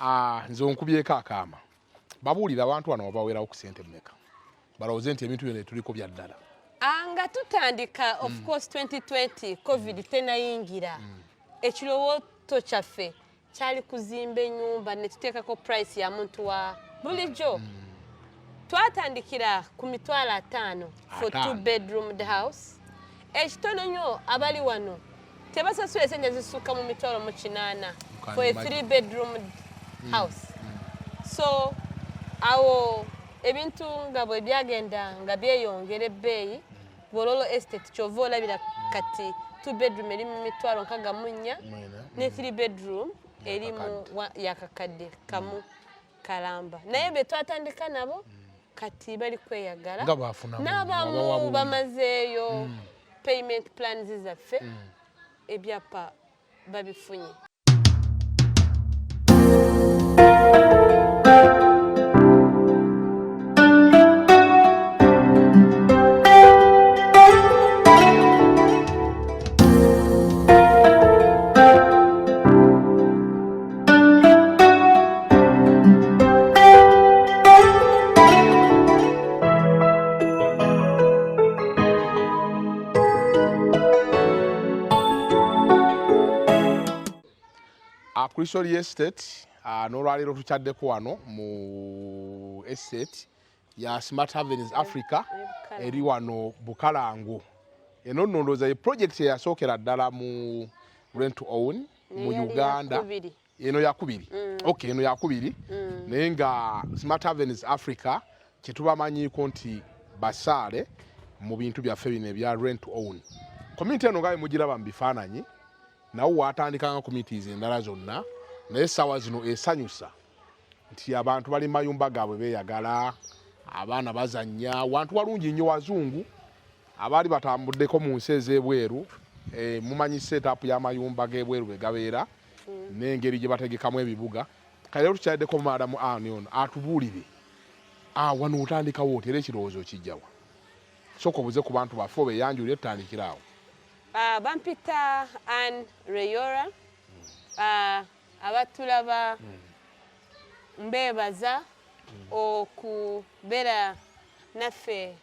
Ah, nze onkubyeko akaama babuulira abantu wano wabawerawo ku sente mumeka balowooze nti ebintu byona etuliko byaddala ah, nga tutandika mm. of course 2020 covid mm. tenayingira mm. ekirowooto kyaffe kyali kuzimba enyumba netuteekako price ya muntu wa bulijjo mm. twatandikira ku mitwalo ataano for two bedroom the house ekitono nyo abali wano tebasasula esente zisukka mu mitwalo mu kinaana for a three bedroom mm. house mm. so awo ebintu nga bwe byagenda nga byeyongera ebbeeyi bololo estate kyova olabira kati two bedroom eri mu mitwalo nkaga munnya ne three bedroom eri mu yakakadde kamu mm. kalamba naye be twatandika nabo mm. kati bali kweyagala n'abamu bamazeeyo mm. payment plans zaffe mm. ebyapa babifunye Christian Estate uh, n'olwaleero tukyaddeko wano mu estate ya Smart Avenues Africa eri wano Bukalango. Eno nnondooza ye project eyasookera ddala mu rent to own mu uganda eno yakubiri mm. ok eno yakubiri mm. naye nga smart avenues africa kyetubamanyiko nti basaale mu bintu byaffe bino ebya rent own community eno ngabe mugiraba mu bifaananyi nawo watandikanga communities endala zonna naye saawa zino esanyusa nti abantu bali mayumba gaabwe beeyagala abaana bazannya wantu walungi nnyo wazungu abaali batambuddeko mu nsi ez'ebweru eh, mumanyi seetaapu y'amayumba g'ebweru bwe gabeera mm. n'engeri gye bategekamu ebibuga kale lero tukyaddeko maadamu ani ono atubuulire ah, wano otandikawo oti era ekirowoozo kijjawa soka obuze ku bantu baffe obeyanjulire tutandikiraawo ah, bampita an reyora hmm. abatulaba mbeebaza okubeera naffe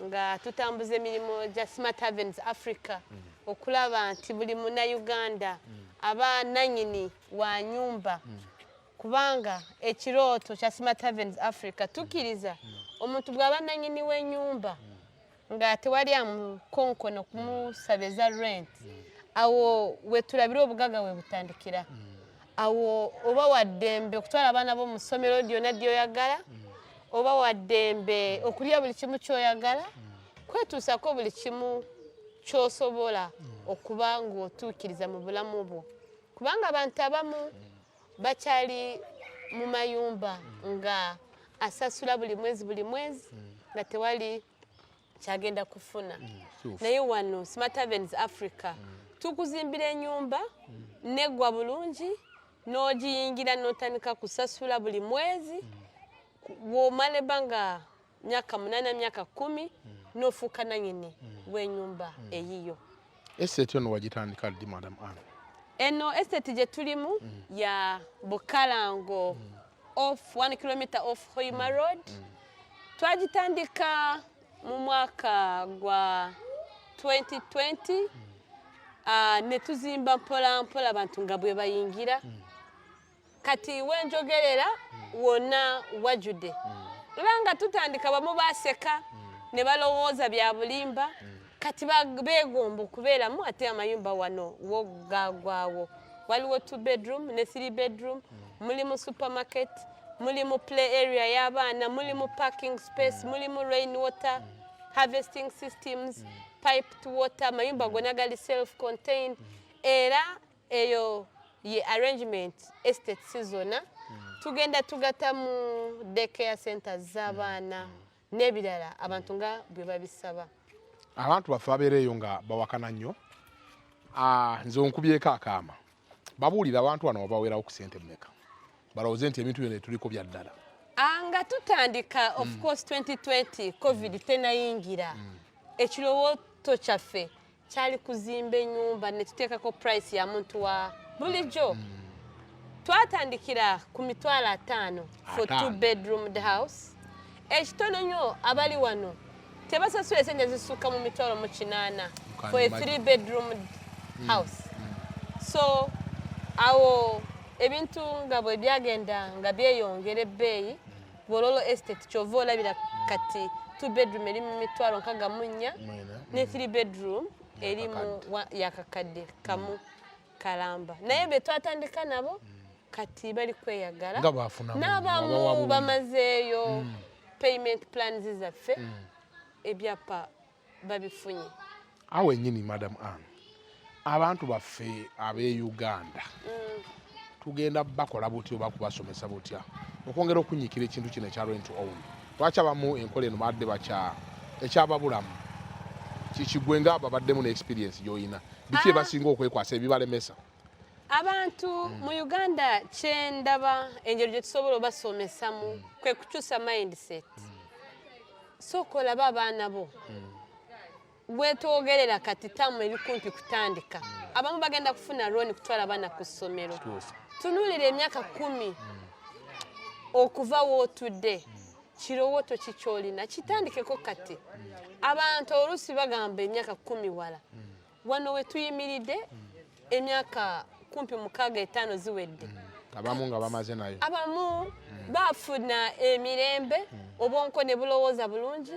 nga tutambuza emirimu gya smart havens africa okulaba nti buli munauganda aba nanyini wa nyumba kubanga ekirooto kya smart havens africa tukkiriza omuntu bw'aba nanyini w'enyumba nga tewali amukonkono kumusabiza rent awo wetulabira obugaga webutandikira mm. awo oba waddembe okutwala abaana bo mu ssomero lyona lyoyagala mm. oba waddembe okulya buli kimu kyoyagala mm. kwetuusako buli kimu kyosobola okuba ngaotuukiriza mu bulamu bwo kubanga abantu abamu bakyali mu mayumba nga asasula buli mwezi buli mwezi nga tewali kyagenda kufuna mm, naye wano smart avens africa mm. tukuzimbira enyumba mm. negwa bulungi n'ogiyingira n'otandika kusasula buli mwezi womala ebbanga myaka munana myaka kumi mm. nofuuka nanyini mm. wenyumba mm. eyiyo estate ono wagitandika ddi madam an eno estate gyetulimu mm. ya bukalango mm. off one kilometer off hoima mm. road mm. twagitandika mu mwaka gwa 2020 mm. uh, ah, netuzimba mpola mpola abantu nga bwebayingira mm. kati wenjogerera hmm. wonna wajjudde era hmm. nga tutandika bamu baseka hmm. ne balowooza bya bulimba kati beegomba okubeeramu ate amayumba wano wo gagwawo waliwo two bedroom ne three bedroom mulimu supermarket mulimu play area y'abaana mulimu parking space mulimu rain water harvesting systems piped water amayumba gona gali self contained era eyo ye arrangement estate sizona hmm. tugenda tugata mu daycare centers z'abaana hmm. hmm. n'ebirala abantu nga bwe babisaba abantu baffe babeereeyo nga bawakana nnyo ah, nze onkubyeko akaama babuulira abantu bano wabaweerawo ku sente mumeka balowooze nti ebintu byona etuliko bya ddala ah, nga tutandika of course 2020 covid tenayingira ekirowooto kyaffe kyali kuzimba enyumba netuteekako price ya muntu wa bulijjo mm. twatandikira ku mitwalo ataano for two bedroom house ekitono eh, nyo abali wano tebasasula esente zisukka mu mitwalo mu kinaana for a three bedroom mm. house mm. so awo ebintu nga bwe byagenda nga byeyongera ebbeeyi Bololo Estate kyova olabira kati two bedroom eri mu mitwalo nkaga mu nnya ne three bedroom eri mu yakakadde kamu kalamba naye be twatandika nabo kati bali kweyagala n'abamu bamazeeyo mm. payment plans zaffe mm. ebyapa babifunye awo wenyini madam an abantu baffe ab'e uganda mm. tugenda bakola butya oba kubasomesa butya okwongera okunyikira ekintu kino ekya rent own lwaki abamu enkola eno badde bakya ekyababulamu kikigwe nga babaddemu ne experience gyolina biki ah. ebasinga okwekwasa ebibalemesa abantu mm. mu uganda kyendaba engeri gyetusobola obasomesamu mm. kwekukyusa mindset mm. sooka olaba abaana bo gwetwogerera hmm. kati tamu ebikumpi kutandika hmm. abamu bagenda kufuna looni kutwala abaana ku ssomero tunuulira emyaka kumi hmm. okuva wootudde kirowooto ki kyolina kitandikeko kati abantu oluusi bagamba emyaka kumi wala wano wetuyimiridde emyaka kumpi mukaaga etaano ziwedde mm. abamu nga bamaze nayo abamu mm. bafuna emirembe mm. obwonko ne bulowooza bulungi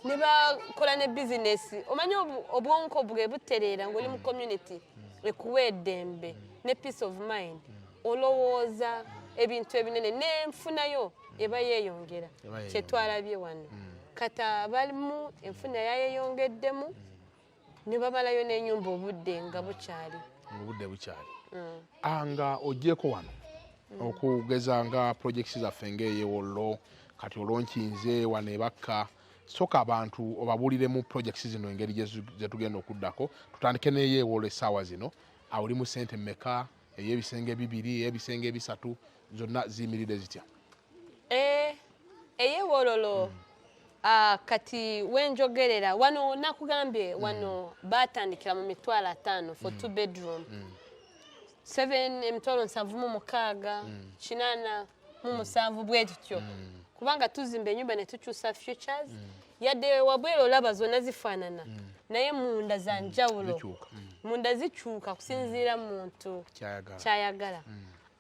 ne bakola ne bizinesi omanyi obwonko bwe butereera ngaoli mu community ekuwa eddembe ne peace of mind olowooza ebintu ebinene nenfunayo eba yeeyongera kyetwalabye wano kata balimu enfuna yayeyongeddemu ne bamalayo n'enyumba obudde nga bukyali obudde bukyali mm. ah, nga ogyeko wano mm. okugeza nga projects zaffe ngaeyewollo kati olwonkinze wano ebakka soka abantu obabuulire mu projects zino engeri gyetugenda okuddako tutandike neyeewollo essaawa zino awulimu sente meka ey'ebisenge bibiri ey'ebisenge ebisatu zonna ziyimiridde zitya eh, eyewololo mm. ah, kati wenjogerera wano nakugambye mm. wano batandikira mu mitwalo ataano for mm. two bedroom mm. seven emitwalo nsanvu mu mukaaga mm. kinaana mu musanvu bwe kityo mm. kubanga tuzimba enyumba ne tukyusa futures mm. yadde wabwera olaba zonna zifaanana mm. naye munda za njawulo munda zikyuka kusinziira muntu kyayagala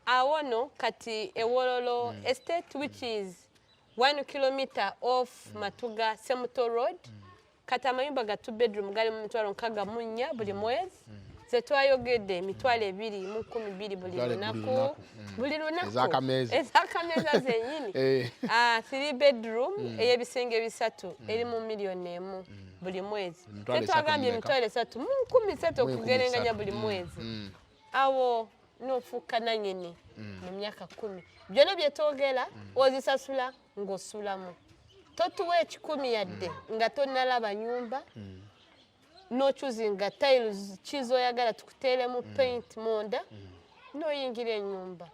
awo no kati ewololo estate which is one kilometer off matuga semuto road kati amayumba ga two bedroom gali mu mitwalo nkaga munya buli mm. mwezi mm. zetwayogedde emitwalo ebiri mu kumi biri buli lunaku mm. buli lunakuezakameeza zenyini eh. ah, three bedroom eyebisenge bisatu eri mu miliyoni emu buli mwezi tetwagambye emitwalo esatu mu nkumi satu okugerenganya buli mwezi awo nofuuka nanyini mu myaka kumi byona byetwogera ozisasula mm. ng'osulamu totuwa ekikumi yadde mm. nga tonalaba nyumba mm. nochuzinga tiles kizoyagala tukuteeremu mm. paint munda noyingira enyumba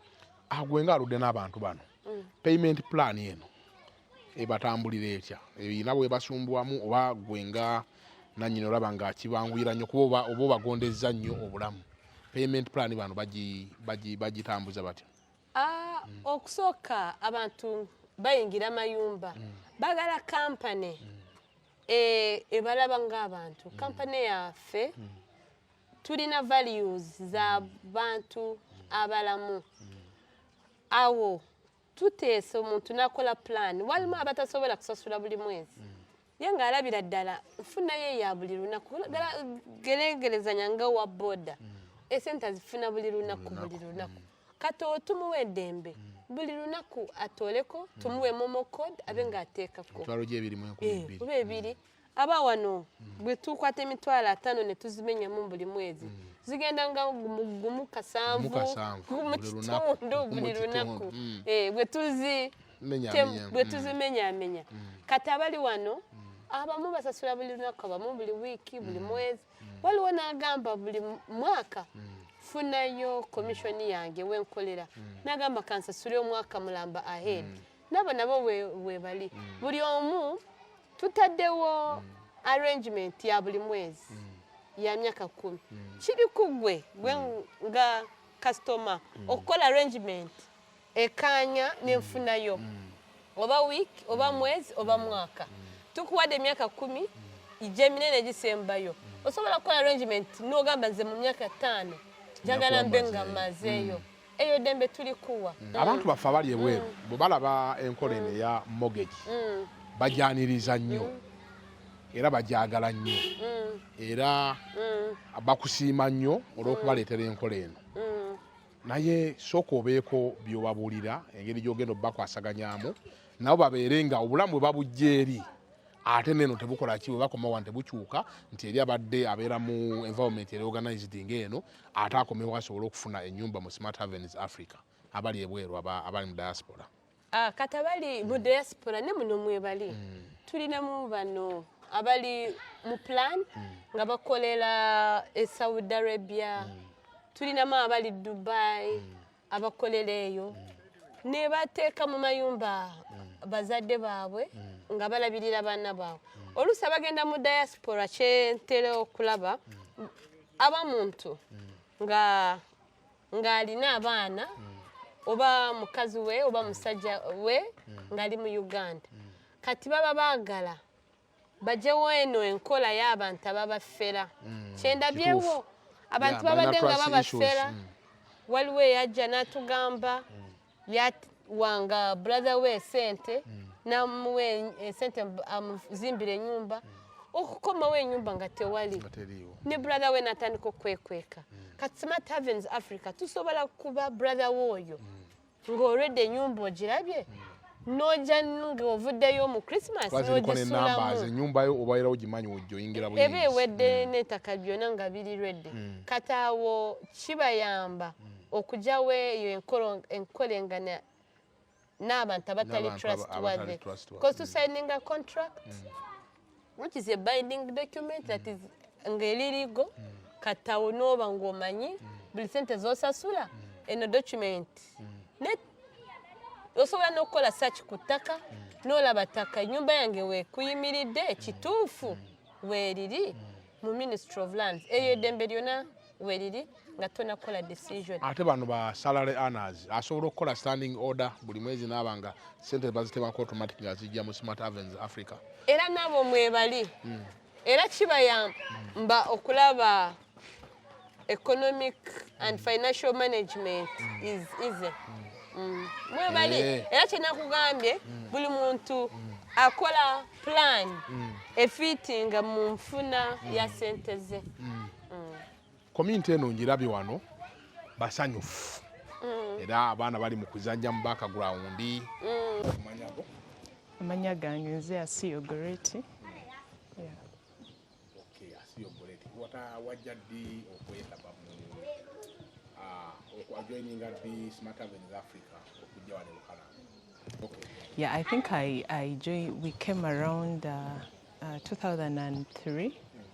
agwe nga aludde n'abantu bano payment plan eno ebatambulira etya ebirina bwebasumbuwamu oba gwe nga nanyina olaba nga kibanguyira nnyo kuba oba obagondezza nnyo obulamu payment plan bano bagitambuza batya Ah, mm. okusooka abantu bayingira mayumba mm. bagala kampane mm. eh, ebalaba ng'abantu kampane yaffe tulina values za bantu abalamu awo tuteesa omuntu nakola pulaani walimu abatasobola kusasula buli mwezi naye nga alabira ddala nfunayo eya buli lunaku geregerezanya nga owa boda mm. esente azifuna buli lunaku buli lunaku mm. kati otumuwa eddembe mm. buli lunaku atooleko tumuwe momo code abe nga ateekako eh, oba ebiri aba wano bwe tukwata emitwalo ataano ne tuzimenyamu buli mwezi zigenda nga gumu kasanvu mu kitundu buli lunaku eh, bwe tuzi bwetuzimenyamenya mm. mm. kati abali wano mm. abamu basasula buli lunaku abamu buli wiiki buli mwezi waliwo nagamba buli mwaka funayo komishoni yange wenkolera nagamba kansasule omwaka mulamba ahead nabo nabo webali buli omu tutaddewo arrangement ya buli mwezi ya myaka kumi kiri kugwe gwe nga customer okukola arrangement ekaanya n'enfuna yo oba wiiki oba mwezi oba mwaka tukuwadde emyaka kumi gyeminene egisembayo osobola kukola arrangement n'ogamba nze mu myaka ttaano njagala mbe nga mazeeyo mm. eyo dembe tulikuwa mm. abantu baffe abali ebweru mm. bwe balaba enkola eno eya mortgage bajaniriza nnyo era bajagala nnyo era bakusiima nnyo olw'okubaleetera enkola eno naye sooka obeeko by'obabuulira engeri gy'ogenda obubakwasaganyaamu nabo babeere nga obulamu bwe babujja eri ate neno tebukola ki bwebakoma wano tebukyuka nti eri abadde abeera mu environment eri organized nga eno ate akomewo asobole okufuna enyumba mu smart havens africa abali ebweru abali mu diaspora Ah, kati abali mu diaspora ne muno mwebali mm. tulinamu bano abali mu plan mm. nga bakolera e saudi arabia mm. tulinamu abali dubai abakolera eyo nebateeka mu mayumba bazadde baabwe nga balabirira baana baabwe oluusi abagenda mu diaspora kyentera okulaba abamuntu nga ng'alina abaana mm. oba mukazi we oba mm. musajja we mm. ng'ali mu uganda kati baba baagala bajewo eno enkola y'abantu ababafera kyendabyewo abantu babadde nga babafera waliwo eyajja n'atugamba yawanga brother we sente mm. namuwa esente eh, amuzimbira enyumba mm. okukomawo enyumba nga tewali ne brother we natandika okwekweka mm. kati smart havens africa tusobola kuba brother we oyo ng'olwedde enyumba ogirabye noja ng'ovuddeyo mu christmas nogisulamuenyumbayo obaera ogimanyi ojoyingira eba ewedde n'ettaka byona nga biri redde kati awo kibayamba mm. okugyawo eyo enkolengana n'abantu abatali trustworthy because to signing a contract mm. which is a binding document that is ng'eririgo mm. katawo n'oba ng'omanyi mm. buli sente z'osasula eno document osobola n'okukola search ku ttaka n'olaba ttaka ennyumba yange wekuyimiridde ekituufu weeriri mu ministry of lands eyo eddembe lyona weriri nga tona kola decision ate bano ba salary earners asobola okukola standing order buli mwezi naba nga sente bazitebako automatic nga zijja mu smart avens africa era nabo mwebali mm. era kibayamba mm. okulaba economic and mm. financial management mm. is easy mm. mm. mwebali eh. era kyenakugambye mm. buli muntu mm. akola plan mm. efitinga mu nfuna mm. ya sente ze mm. kominti mm. eno ngirabye wano basanyufu mm. era abaana bali mu kuzanja mu bakagrawundi amanya gange nze asiyo goreti wajja ddi okwetaba joining at the Smart Avenue in Africa okujja wano Bukalange? Yeah, I think I, I joined, we came around uh, uh, 2003. Mm.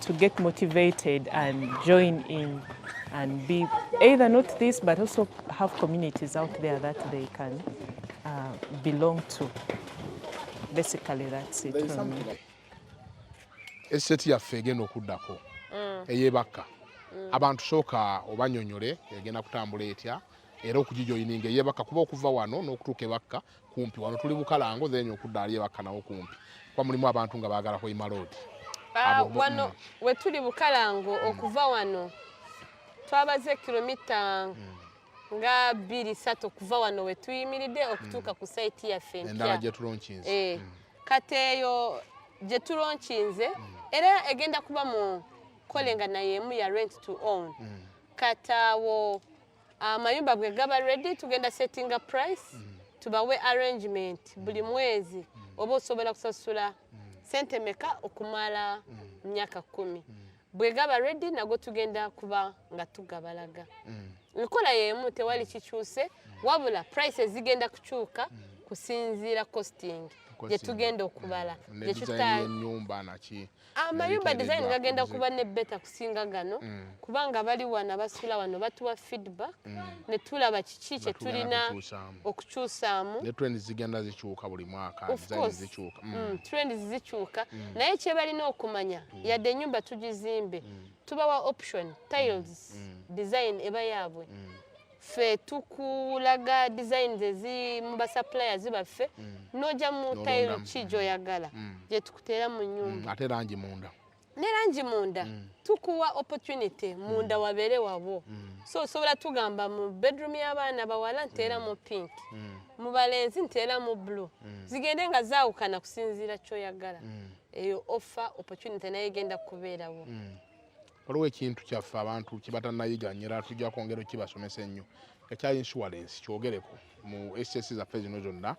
to get motivated and join in and be either not this but also have communities out there that they can uh, belong to. Basically that's it. Estate yaffe egenda okuddako mm. eyebakka mm. abantu sooka obanyonyole egenda kutambula etya era okugijoyininga eyebakka kuba okuva wano n'okutuuka ebakka kumpi wano tuli bukalango then okudda ali ebakkanawo kumpi kuba mulimu abantu nga baagala hoima road ah, wano mm. we tuli bukalango mm. okuva wano twabaze kilomita mm. nga bbiri satu okuva wano we tuyimiridde okutuuka ku saiti yaffe empya eh, kati eyo gye tulonkinze era egenda kuba mu kolenga naye emu ya rent to own kataawo amayumba bwe gaba ready tugenda settinga price mm. tubawe arrangement mm. buli mwezi mm. oba osobola kusasula sente meka okumala myaka kumi bwe gaba ready nago tugenda kuba nga tugabalaga nkola yemu tewali kikyuse wabula price zigenda kukyuka kusinziira costing gyetugenda okubala gyetutaenyumba naki amayumba design gagenda kuba ne beta kusinga gano mm. kubanga bali wana basula wano batuwa feedback mm. ne tulaba kiki kye tulina okukyusaamu ne trends zigenda zikyuka buli mwaka design zikyuka mm. mm. trends zikyuka mm. naye kye balina okumanya mm. yadde enyumba tugizimbe mm. tubawa option tiles mm. design eba yaabwe mm. ffe tukulaga designs ezi mu basuppliers baffe mm. noja mu tile ki mm. gyoyagala mm. gye tukuteera mu nyumba ate langi munda ne langi munda tukuwa opportunity munda wabeere wabwo so osobola tugamba mu bedroom y'abaana bawala nteera mu pink mu balenzi nteera mu blue zigende nga zaawukana kusinziira kyoyagala eyo offer opportunity naye egenda kubeerawo waliwo ekintu kyaffe abantu kyebatanayiga nyo era tujja kwongera okibasomesa ennyo ekya insurance kyogereko mu ss zaffe zino zonna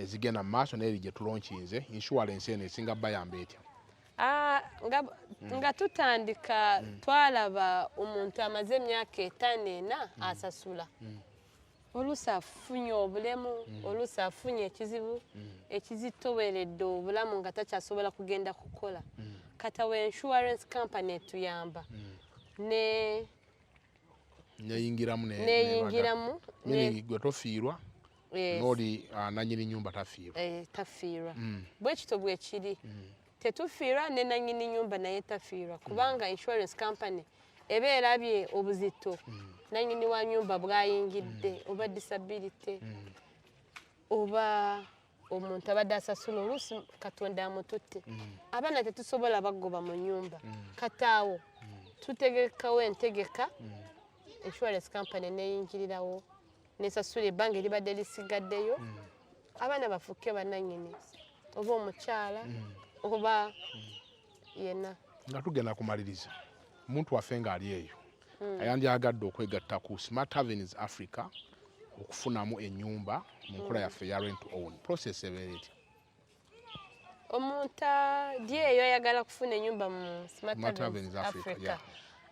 ezigenda mu maaso naeri gyetulonkinze insurance eno esinga bayamba etya ah, mm. nga tutandika mm. twalaba omuntu amaze emyaka etaano ena mm. asasula oluusi afunye obulemu mm. oluusi afunye ekizibu mm. ekizitoweredde obulamu nga takyasobola kugenda kukola mm. kata we insurance company etuyamba ne neyingiramu neyingiramu gwe tofiirwa noli ah, nanyini nyumba tafiirwa eh, tafiirwa bwekito bwekiri tetufiirwa ne nannyini nyumba naye tafiirwa mm. kubanga insurance company eba erabye obuzito mm. nannyini wa nyumba bwayingidde mm. oba disability oba omuntu abadde asasula oluusi katonda amututte abaana tetusobola bagoba mu nyumba kataawo tutegekawo entegeka insurance company neyingirirawo nesasula ebbanga eribadde lisigaddeyo mm. abaana bafuuke bananyini oba omukyala mm. oba mm. yena nga tugenda kumaliriza omuntu waffe ng'ali eyo ayandyagadde okwegatta ku smart avenues africa okufunamu enyumba mu nkola yaffe ya rent own process ebeera etya omuntu ali eyo ayagala kufuna enyumba mu smart africa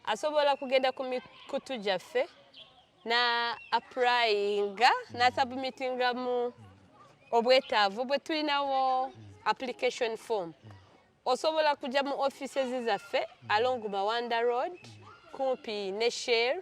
asobola kugenda ku mikutu gyaffe na apurayinga nasabumitingamu obwetaavu bwe tulinawo application form osobola kujja mu offices zaffe along mawanda road kumpi ne share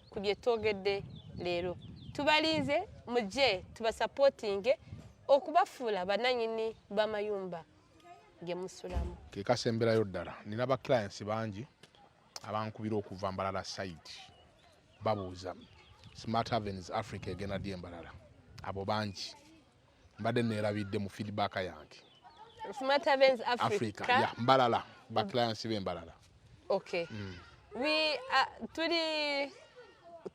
ku bye twogedde leero tubalinze mujje tubasapootinge okubafuula bananyini b'amayumba ge musulamu kekasemberayo ddala nina ba clients bangi abankubira okuva mbalala site babuuza smart havens africa egenda dye mbalala abo bangi mbadde neerabidde mu feedback yange Smart Events Africa, Africa. Yeah, mbalala ba mm. clients be mbalala okay mm. we are uh, tuli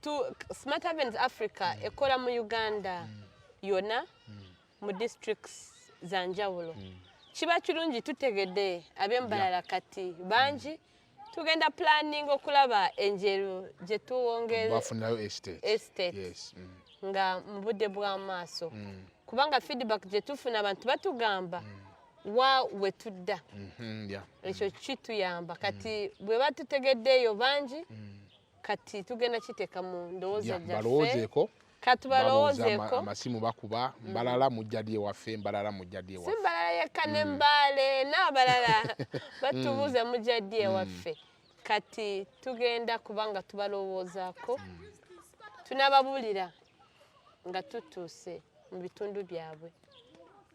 tu Smart Events Africa mm. ekola mu Uganda mm. yona mm. mu districts za njawulo mm. kiba kirungi tutegedde ab'embalala yeah. kati bangi mm. tugenda planning okulaba enjeru gye tuwongerebafunayo estate, estate. Yes. Mm. nga mu budde bw'amaaso mm. kubanga feedback gye tufuna abantu batugamba mm. wa wetudda mm-hmm, ekyo kituyamba kati mm. bwe batutegeddeeyo bangi mm. kati tugenda kiteka mu ndowooza gyaffe katubalowoozeeko amasimu bakuba mm. mbalala mujjadi ewaffe mbalala mujjadi ewaffe si mbalala yekka ne mm. mbaale n'abalala batubuuza mm. mujjadi ewaffe kati tugenda kubanga tubalowoozaako tunababuulira nga tutuuse mu bitundu byabwe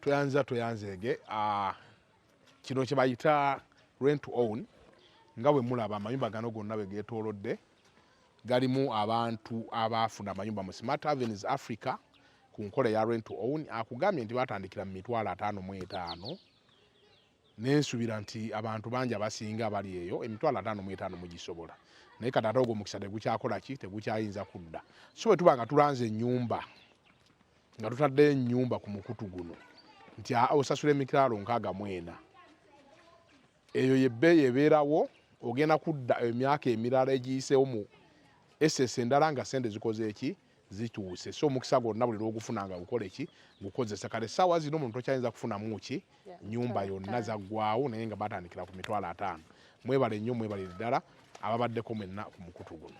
tweyanziza tweyanzeege ah, kino kyebayita rent to own nga bwe mulaba amayumba gano gonna bwe geetoolodde galimu abantu abaafuna amayumba mu smart avenues africa ku nkola ya rent to own akugambye nti batandikira mu mitwalo ataano mu etaano nensuubira nti abantu bangi abasinga abali eyo emitwalo ataano mu etaano mugisobola naye kati ate ogwo omukisa tegukyakola ki tegukyayinza kudda so bwe tuba nga tulanze ennyumba nga tutaddeyo ennyumba ku mukutu guno nti osasula emitwalo nkaaga mu ena eyo yebbeeyi ebeerawo ogenda kudda emyaka emirala egiyiseewo mu esesa endala nga sente zikoze eki zituuse so omukisa gwonna buli lwogufuna nga gukola eki gukozesa kale saawa zino omuntu tokyayinza kufunamu ki nyumba yonna zaggwawo naye nga batandikira ku mitwalo ataano mwebale nnyo mwebalire ddala ababaddeko mwenna ku mukutu guno